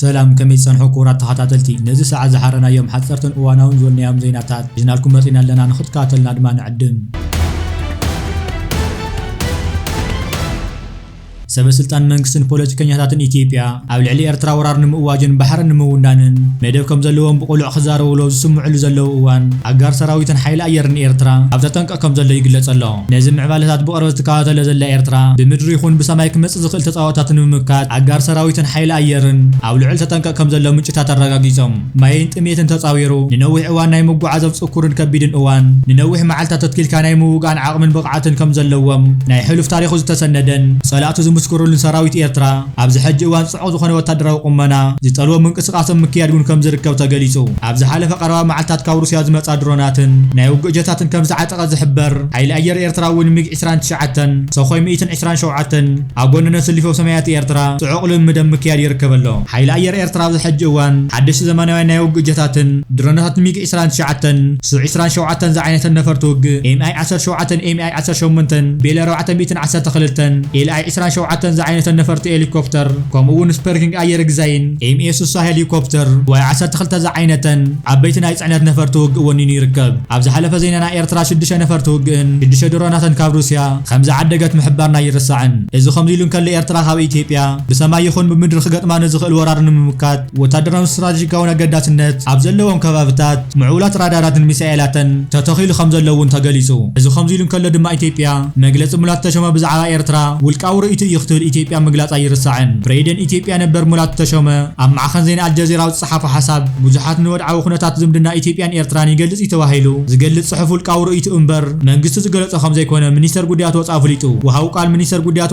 ሰላም ከመይ ትጸንሑ ክቡራት ተኸታተልቲ ነዚ ሰዓት ዝሓረናዮም ሓጸርትን እዋናውን ዝበልናዮም ዜናታት ሒዝናልኩም መጺና ኣለና ንኽትከታተሉና ድማ ንዕድም። ሰበ ስልጣን መንግስትን ፖለቲከኛታትን ኢትዮጵያ ኣብ ልዕሊ ኤርትራ ወራር ንምእዋጅን ባሕረን ንምውናንን መደብ ከምዘለዎም ብቕሉዕ ክዛረቡሉ ኣብ ዝስምዕሉ ዘለዉ እዋን ኣጋር ሰራዊትን ሓይሊ ኣየርን ኤርትራ ኣብ ተጠንቀቕ ይረኣ ከም ዘሎ ይግለጽ ኣሎ። ነዚ ምዕባለታት ብቕርበት ትከታተሎ ዘላ ኤርትራ፣ ብምድሪ ይኹን ብሰማይ ክመጽእ ዝኽእል ተጻብኦታት ንምምካት፣ ኣጋር ሰራዊትን ሓይሊ ኣየርን ኣብ ልዑል ተጠንቀቕ ከም ዘሎ ምንጭታት ኣረጋጊጾም። ማይን ጥምየትን ተጻዊሩ፣ ንነዊሕ እዋን ናይ ምጉዓዝ ኣብ ጽኩርን ከቢድን እዋን፣ ንነዊሕ መዓልታት ተትኪልካ ናይ ምውጋእን ዓቕምን ብቕዓትን ከም ዘለዎም፣ ናይ ሕሉፍ ታሪኹ ዝተሰነደን፣ ጸላእቱ ዝምስክሩሉን ሰራዊት ኤርትራ፣ ኣብዚ ሕጂ እዋን፣ መርትዖ ዝኾነ ወታደራዊ ቁመና ዝጠልቦ ምንቅስቓስ ኣብ ምክያድ እውን ከም ዝርከብ ተገሊፁ። ኣብ ዝሓለፈ ቀረባ መዓልታት ካብ ሩስያ ዝመፅኣ ድሮናትን ናይ ውግእ ጀታትን ከም ዝዓጠቐ ዝሕበር ሓይሊ ኣየር ኤርትራ እውን ሚግ ዕስራን ትሽዓተን፣ ሰኾይ ሚእትን ዕስራን ሸውዓተን ኣብ ጎነን ኣሰሊፉ ኣብ ሰማያት ኤርትራ ፅዑቕ ልምምድ ኣብ ምክያድ ይርከብ ኣሎ። ሓይሊ ኣየር ኤርትራ ኣብዚ ሕጂ እዋን ሓደሽቲ ዘመናውያን ናይ ውግእ ጀታትን ድሮናታትን ሚግ ዕስራን ትሽዓተን ሱ ዕስራን ሸውዓተን ዝዓይነተን ነፈርቲ ውግእ፣ ኤምኣይ ዓሰርተ ሸውዓተን፣ ኤምኣይ ዓሰርተ ሸሞንተን፣ ቤል ኣርባዕተ ሚእትን ዓሰርተ ክልተን፣ ኤልኣይ ዕስራን ሸውዓተን ዝዓይነተን ነፈርቲ ኤሊኮፕተር፣ ከምኡ'ውን ስፐርኪንግ ኣየር ግዛይን፣ ኤምኤ ስሳ ሄሊኮፕተር፣ ዋይ ዓሰርተ ክልተ ዝዓይነተን ዓበይቲ ናይ ጽዕነት ነፈርቲ ውግእ ወኒኑ ይርከብ። ኣብ ዝሓለፈ ዜናና ኤርትራ ሽዱሽተ ነፈርቲ ውግእን ሽዱሽተ ድሮናትን ካብ ሩስያ ከምዝዓደገት ምሕባርና ኣይርሳዕን። እዚ ከምዚ'ሉ እንከሎ ኤርትራ ካብ ኢትዮጵያ ብሰማይ ይኹን ብምድሪ ክገጥማ ንዝኽእል ወራር ንምምካት፣ ወታደራውን ስትራቴጂካውን ኣገዳስነት ኣብ ዘለዎም ከባብታት ምዕቡላት ራዳራትን ሚሳኤላትን ተተኺሉ ከምዘሎ እውን ተገሊፁ። እዚ ከምዚሉ እንከሎ ድማ ኢትዮጵያ መግለፂ ሙላቱ ተሾመ ብዛዕባ ኤርትራ ውልቃዊ ርእይቶ እዩ ክትብል ኢትዮጵያ ምግላፃ ኣይርሳዕን። ፕሬይደን ኢትዮጵያ ነበር ሙላቱ ተሾመ ኣብ ማዕኸን ዜና ኣልጀዚራ ኣብ ዝፀሓፎ ሓሳብ ብዙሓት ንወድዓዊ ኩነታት ዝምድና ኢትዮጵያን ኤርትራን ይገልፅ እዩ ተባሂሉ ዝገልፅ ፅሑፍ ውልቃዊ ርእይትኡ እምበር መንግስቱ ዝገለፆ ከምዘይኮነ ሚኒስተር ጉዳያት ወፃኢ ኣፍሊጡ። ወሃቢ ቃል ሚኒስተር ጉዳያት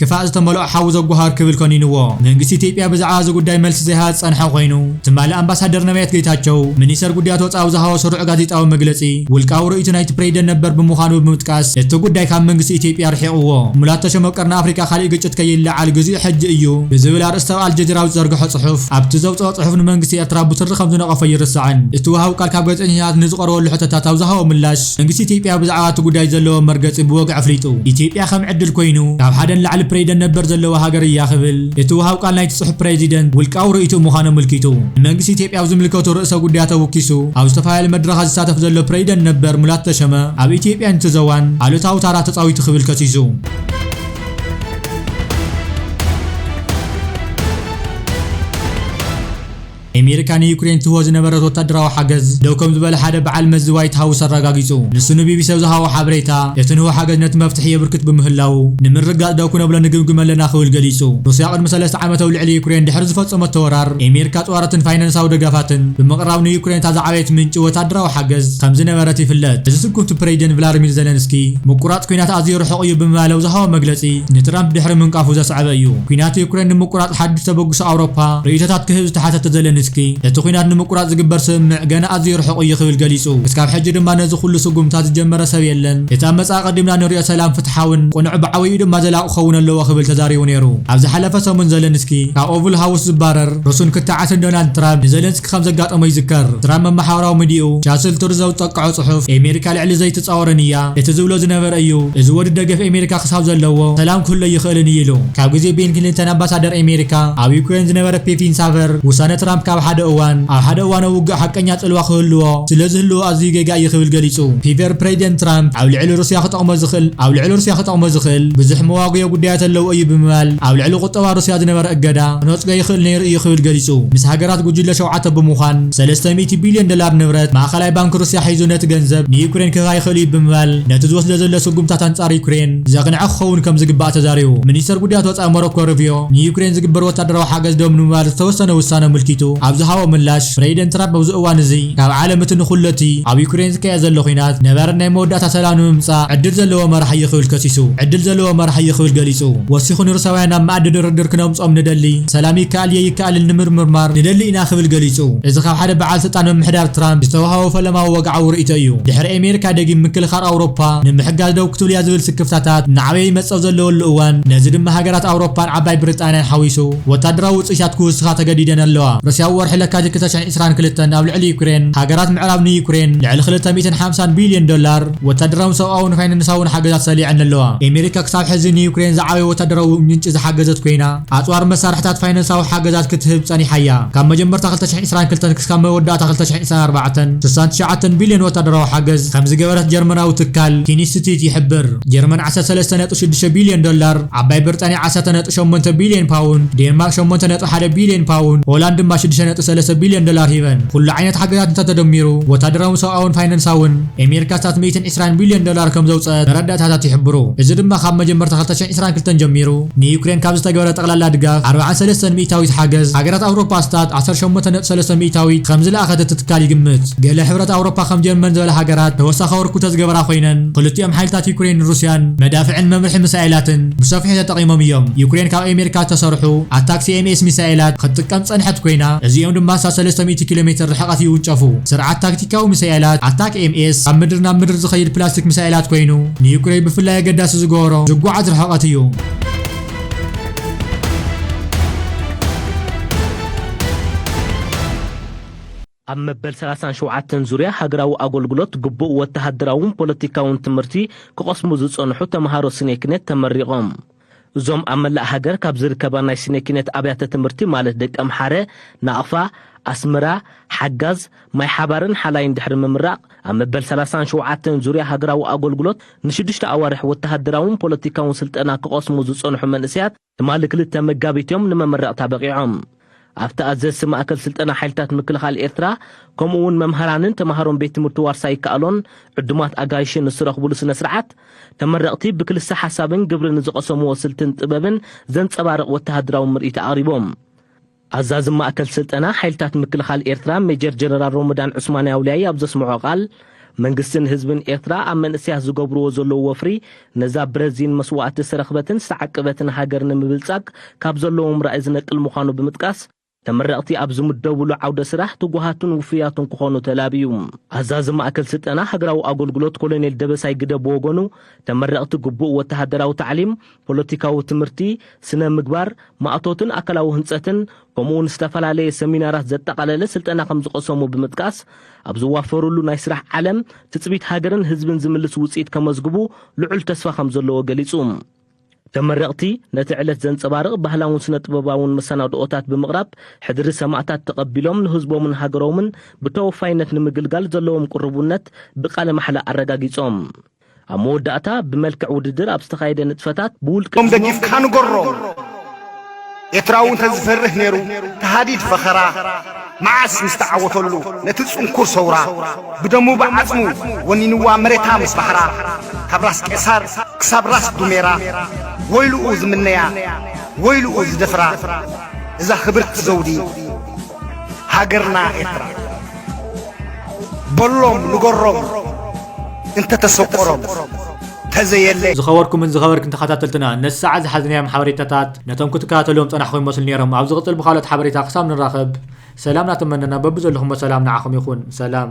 ክፋእ ዝተመልኦ ሓዊ ዘጓሃር ክብል ኮኒንዎ። መንግስቲ ኢትዮጵያ ብዛዕባ እዚ ጉዳይ መልሲ ዘይሃበ ዝጸንሐ ኮይኑ፣ ትማሊ ኣምባሳደር ነብያት ጌታቸው፣ ሚኒስተር ጉዳያት ወጻኢ ኣብ ዝሃቦ ስሩዕ ጋዜጣዊ መግለጺ፣ ውልቃዊ ርእይቶ ናይቲ ፕሬዚደንት ነበር ብምዃኑ ብምጥቃስ፣ እቲ ጉዳይ ካብ መንግስቲ ኢትዮጵያ ኣርሒቕዎ። ሙላቱ ተሾመ ቀርኒ ኣፍሪቃ ካሊእ ግጭት ከይለዓል ግዚኡ ሕጂ እዩ ብዝብል ኣርእስቲ ኣብ ኣልጀዚራ ኣብ ዝዘርግሖ ጽሑፍ፣ ኣብቲ ዘውጽኦ ጽሑፍ ንመንግስቲ ኤርትራ ብትሪ ከምዝነቐፎ ኣይርሳዕን። እቲ ወሃቢ ቃል ካብ ጋዜጠኛታት ንዝቐረበሉ ሕቶታት ኣብ ዝሃቦ ምላሽ፣ መንግስቲ ኢትዮጵያ ብዛዕባ እቲ ጉዳይ ዘለዎ መርገጺ ብወግዒ ኣፍሊጡ። ኢትዮጵያ ከም ዕድል ኮይኑ ካብ ሓደ ንላዕሊ ፕሬዚደንት ነበር ዘለዋ ሃገር እያ ክብል እቲ ወሃብ ቃል ናይቲ ጽሑፍ ፕሬዚደንት ውልቃዊ ርእይትኡ ምዃኑ ኣመልኪቱ። ንመንግስቲ ኢትዮጵያ ኣብ ዝምልከቱ ርእሰ ጉዳያት ኣወኪሱ ኣብ ዝተፈላለዩ መድረኻት ዝሳተፍ ዘሎ ፕሬዚደንት ነበር ሙላቱ ተሾመ ኣብ ኢትዮጵያን እቲ ዞባን ኣሉታዊ ታራ ተጻዊቱ ክብል ከሲሱ። ኣሜሪካ ንዩክሬን ትህቦ ዝነበረት ወታደራዊ ሓገዝ ደው ከም ዝበለ ሓደ በዓል መዚ ዋይት ሃውስ ኣረጋጊጹ። ንሱ ንቢቢሲ ኣብ ዝሃቦ ሓበሬታ፣ እቲ ንህቦ ሓገዝ ነቲ መፍትሒ የብርክት ብምህላዉ፣ ንምርግጋጽ ደው ክነብሎ ንግምግም ኣለና ክብል ገሊጹ። ሩስያ ቅድሚ ሰለስተ ዓመት ኣብ ልዕሊ ዩክሬን ድሕሪ ዝፈጸመቶ ወራር፣ ኣሜሪካ ኣጽዋራትን ፋይናንሳዊ ደገፋትን ብምቕራብ ንዩክሬን እታ ዝዓበየት ምንጪ ወታደራዊ ሓገዝ ከም ዝነበረት ይፍለጥ። እዚ ስጉምቲ ፕረዚደንት ቭላድሚር ዘለንስኪ፣ ምቁራጽ ኲናት ኣዝዩ ርሑቕ እዩ ብምባል ኣብ ዝሃቦ መግለጺ ንትራምፕ ድሕሪ ምንቃፉ ዘስዐበ እዩ። ኲናት ዩክሬን ንምቁራጽ ሓድሽ ተበግሶ ኣውሮፓ ርእይቶታት ክህብ ዝተሓተተ ዘለንስኪ፣ እቲ ኲናት ንምቁራጽ ዝግበር ስምምዕ ገና ኣዝዩ ርሑቕ እዩ ክብል ገሊጹ። ክሳብ ሕጂ ድማ ነዚ ኩሉ ስጉምትታት ዝጀመረ ሰብ የለን። እቲ ኣብ መጻኢ ቀዲምና ንሪኦ ሰላም ፍትሓውን ቅኑዕ ብዓብይኡ ድማ ዘላቒ ክኸውን ኣለዎ ክብል ተዛሪቡ ነይሩ። ኣብ ዝሓለፈ ሰሙን ዘለንስኪ ካብ ኦቭል ሃውስ ዝባረር ርሱን ክትዓትን ዶናልድ ትራምፕ ንዘለንስኪ ከም ዘጋጠሞ ይዝከር። ትራምፕ ኣብ መሓውራዊ ምድያኡ ቻስል ቱርዝ ኣብ ዝጠቀዖ ጽሑፍ፣ ኤሜሪካ ልዕሊ ዘይትጻወረኒ እያ፣ እቲ ዝብሎ ዝነበረ እዩ፣ እዚ ወዲ ደገፍ ኤሜሪካ ክሳብ ዘለዎ ሰላም ክህሉ ኣይኽእልን እዩ ኢሉ። ካብ ግዜ ቤን ክሊንተን ኣምባሳደር ኤሜሪካ ኣብ ዩክሬን ዝነበረ ፔፒን ሳቨር፣ ውሳነ ትራምፕ ካብ ሓደ እዋን ኣብ ሓደ እዋን ኣብ ውግእ ሓቀኛ ጽልዋ ክህልዎ ስለ ዝህልዎ ኣዝዩ ጌጋ እዩ ክብል ገሊጹ። ፒቨር ፕሬዚደንት ትራምፕ ኣብ ልዕሊ ሩስያ ክጠቕሞ ዝኽእል ኣብ ልዕሊ ሩስያ ክጠቕሞ ዝኽእል ብዙሕ መዋጉዮ ጉዳያት ኣለዎ እዩ ብምባል ኣብ ልዕሊ ቁጠባ ሩስያ ዝነበረ እገዳ ክነጽጎ ይኽእል ነይሩ እዩ ክብል ገሊጹ። ምስ ሃገራት ጉጅለ ሸውዓተ ብምዃን ሰለስተ ሚእቲ ቢልዮን ዶላር ንብረት ማእከላይ ባንክ ሩስያ ሒዙ ነቲ ገንዘብ ንዩክሬን ክህባ ይኽእል እዩ ብምባል ነቲ ዝወስዶ ዘሎ ስጉምታት ኣንጻር ዩክሬን ዘቕንዐ ክኸውን ከም ዝግባእ ተዛሪቡ። ሚኒስተር ጉዳያት ወጻኢ ሞሮኮ ሩቪዮ ንዩክሬን ዝግበር ወታደራዊ ሓገዝ ደው ንምባል ዝተወሰነ ውሳነ ኣመልኪቱ ኣብ ዝሃቦ ምላሽ ፕረዚደንት ትራምፕ ኣብዚ እዋን እዚ ካብ ዓለም እቲ ንኹሉ እቲ ኣብ ዩክሬን ዝካየድ ዘሎ ኲናት ነባሪ ናይ መወዳእታ ሰላም ንምምጻእ ዕድል ዘለዎ መራሒ እዩ ክብል ከሲሱ። ዕድል ዘለዎ መራሒ እዩ ክብል ገሊጹ። ገሊጹ። ወሲኹ ንሩሳውያን ናብ መኣዲ ድርድር ክነምጽኦም ንደሊ፣ ሰላም ይከኣል እየ ይከኣልን ንምርምርማር ንደሊ ኢና ክብል ገሊጹ። እዚ ካብ ሓደ በዓል ስልጣን ምምሕዳር ትራምፕ ዝተወሃቦ ፈለማዊ ወግዓዊ ርእይቶ እዩ። ድሕሪ ኣሜሪካ ደጊም ምክልኻል ኣውሮፓ ንምሕጋዝ ደው ክትብል እያ ዝብል ስክፍታታት እናዓበየ ይመጽእ ኣብ ዘለወሉ እዋን፣ ነዚ ድማ ሃገራት ኣውሮፓን ዓባይ ብሪጣንያን ሓዊሱ ወታደራዊ ውጽኢታት ክውስኻ ተገዲደን ኣለዋ። ሩስያ ኣብ ወርሒ ለካቲት ክልተ ሽሕን ዕስራን ክልተን ኣብ ልዕሊ ዩክሬን፣ ሃገራት ምዕራብ ንዩክሬን ልዕሊ ክልተ ሚእትን ሓምሳን ቢልዮን ዶላር፣ ወታደራውን ሰብኣውን ፋይናንሳውን ሓገዛት ሰሊዐን ኣለዋ። ኤመሪካ ክሳብ ሕዚ ንዩክሬን ዝዓበየ ወታደራዊ ምንጪ ዝሓገዘት ኮይና፣ ኣጽዋርን መሳርሕታት ፋይናንሳዊ ሓገዛት ክትህብ ጸኒሓ እያ። ካብ መጀመርታ ክልተ ሽሕን ዕስራን ክልተን ክስካብ መወዳእታ ክልተ ሽሕን ዕስራን ኣርባዕተን፣ ስሳን ትሽዓተን ቢልዮን ወታደራዊ ሓገዝ ከም ዝገበረት ጀርመናዊ ትካል ኪንስቲት ይሕብር። ጀርመን ዓሰርተ ሰለስተ ነጥቢ ሽዱሽተ ቢልዮን ዶላር፣ ዓባይ ብርጣንያ ዓሰርተ ነጥቢ ሸሞንተ ቢልዮን ፓውንድ፣ ዴንማርክ ሸሞንተ ነጥቢ ሓደ ቢልዮን ፓውንድ፣ ሆላንድ ድማ ሽዱሽተ ነጥቢ ሰለስተ ቢልዮን ዶላር ሂበን። ኩሉ ዓይነት ሓገዛት እንተ ተደሚሩ፣ ወታደራውን ሰብኣውን ፋይናንሳውን፣ ኤሜሪካ ኣስታት ሚእትን ዕስራን ቢልዮን ዶላር ከም ዘውጸኣት መረዳእታታት ይሕብሩ። እዚ ድማ ካብ መጀመርታ ክልተ ሽሕን ዕስራን ክልተን ጀሚሩ ንዩክሬን ካብ ዝተገብረ ጠቕላላ ድጋፍ ኣርብዓን ሰለስተን ሚእታዊት ሓገዝ ሃገራት ኣውሮፓ ኣስታት ዓሰርተ ሸሞንተ ነጥቢ ሰለስተ ሚእታዊት ከም ዝለኣኸት እቲ ትካል ይግምት። ገለ ሕብረት ኣውሮፓ ከም ጀርመን ዝበላ ሃገራት ተወሳኺ ኣበርኩቶ ዝገበራ ኮይነን ክልቲኦም ሓይልታት ዩክሬይንን ሩስያን መዳፍዕን መምርሒ ምሳኤላትን ብሰፊሑ ተጠቒሞም እዮም። ዩክሬን ካብ ኤሜሪካ ዝተሰርሑ ኣታክስ-ኤምኤስ ሚሳኤላት ክትጥቀም ዝጸንሐት ኮይና እዚኦም ድማ ኣስታት ሰለስተ ሚእቲ ኪሎ ሜትር ርሕቐት ይውንጨፉ። ስርዓት ታክቲክ ፖለቲካዊ ሚሳኤላት፣ ኣታክኤምኤስ፣ ካብ ምድሪ ናብ ምድሪ ዝኸይድ ፕላስቲክ ሚሳኤላት ኮይኑ፣ ንዩክረይ ብፍላይ ኣገዳሲ ዝገበሮ፣ ዝጓዓዝ ርሕቐት እዩ። ኣብ መበል ሰላሳን ሸውዓተን ዙርያ ሃገራዊ ኣጎልጉሎት ግቡእ ወተሃደራውን ፖለቲካውን ትምህርቲ ክቐስሙ ዝጸንሑ ተመሃሮ ስኔክኔት ተመሪቖም። እዞም ኣብ መላእ ሃገር ካብ ዝርከባ ናይ ስነ ኪነት ኣብያተ ትምህርቲ ማለት ደቂ ኣምሓረ፣ ናቕፋ፣ ኣስመራ፣ ሓጋዝ፣ ማይ ሓባርን ሓላይን ድሕሪ ምምራቕ ኣብ መበል ሰላሳን ሸውዓተን ዙርያ ሃገራዊ ኣጎልጉሎት ንሽዱሽተ ኣዋርሕ ወተሃደራውን ፖለቲካውን ስልጠና ክቐስሙ ዝጸንሑ መንእሰያት ትማሊ ክልተ መጋቢት'ዮም ንመመረቕታ በቒዖም። ኣብቲ ኣዘዝቲ ማእከል ስልጠና ሓይልታት ምክልኻል ኤርትራ፣ ከምኡ'ውን መምሃራንን ተማሃሮን ቤት ትምህርቲ ዋርሳይ ይከኣሎን ዕዱማት ኣጋይሽን ንዝረኽቡሉ ስነ-ስርዓት፣ ተመረቕቲ ብክልሰ ሓሳብን ግብርን ንዝቐሰምዎ ስልትን ጥበብን ዘንጸባርቕ ወተሃደራዊ ምርኢት ኣቕሪቦም። ኣዛዚ ማእከል ስልጠና ሓይልታት ምክልኻል ኤርትራ ሜጀር ጀነራል ሮሞዳን ዑስማን ያውልያይ ኣብ ዘስመዖ ቃል፣ መንግስትን ህዝብን ኤርትራ ኣብ መንእሰያት ዝገብርዎ ዘለዉ ወፍሪ ነዛ ብረዚን መስዋእቲ ዝተረኽበትን ዝተዓቀበትን ሃገር ንምብልጻግ ካብ ዘለዎም ራኢ ዝነቅል ምዃኑ ብምጥቃስ፣ ተመረቕቲ ኣብ ዝምደብሉ ዓውደ ስራሕ ትጉሃትን ውፉያትን ክኾኑ ተላብዩ። ኣዛዚ ማእከል ስልጠና ሃገራዊ ኣጎልጉሎት ኮሎኔል ደበሳይ ግደ ብወገኑ፣ ተመረቕቲ ግቡእ ወተሃደራዊ ታዕሊም፣ ፖለቲካዊ ትምህርቲ፣ ስነ-ምግባር፣ ማእቶትን ኣካላዊ ህንጸትን፣ ከምኡ'ውን ዝተፈላለየ ሰሚናራት ዘጠቓለለ ስልጠና ከም ዝቐሰሙ ብምጥቃስ፣ ኣብ ዝዋፈሩሉ ናይ ስራሕ ዓለም ትጽቢት ሃገርን ህዝብን ዝምልስ ውጽኢት ከመዝግቡ ልዑል ተስፋ ከም ዘለዎ ገሊጹ። ተመረቕቲ፣ ነቲ ዕለት ዘንጸባርቕ ባህላውን ስነ-ጥበባውን መሰናድኦታት ብምቕራብ ሕድሪ ሰማእታት ተቐቢሎም ንህዝቦምን ሃገሮምን ብተወፋይነት ንምግልጋል ዘለዎም ቅሩብነት ብቃለ ማሕላ ኣረጋጊጾም። ኣብ መወዳእታ ብመልክዕ ውድድር ኣብ ዝተኻየደ ንጥፈታት ብውልቂ ም ደጊፍካ ንገሮም ኤትራዊ እንተ ዝፈርህ ነይሩ ተሃዲድ ፈኸራ መዓስ ምስ ተዓወተሉ ነቲ ጽንኩር ሰውራ ብደሙ ብዓጽሙ ወኒንዋ መሬታ ምስ ባሕራ ካብ ራስ ቄሳር ክሳብ ራስ ዱሜራ ወይልኡ ዝምነያ ወይልኡ ዝደፍራ እዛ ክብርቲ ዘውዲ ሃገርና ኤርትራ በሎም ንገሮም እንተተሰቆሮም ተዘየለ ዝኸበርኩምን ዝኸበርክን ተኸታተልትና ነዚ ሰዓት ዝሓዝናዮም ሓበሬታታት ነቶም ክትከታተልዎም ጸናሕኩም ይመስሉ ነይሮም ኣብ ዝቕጽል ብካልኦት ሓበሬታ ክሳብ ንራኸብ ሰላም ናተመነና በብዘለኹሞ ሰላም ንዓኹም ይኹን ሰላም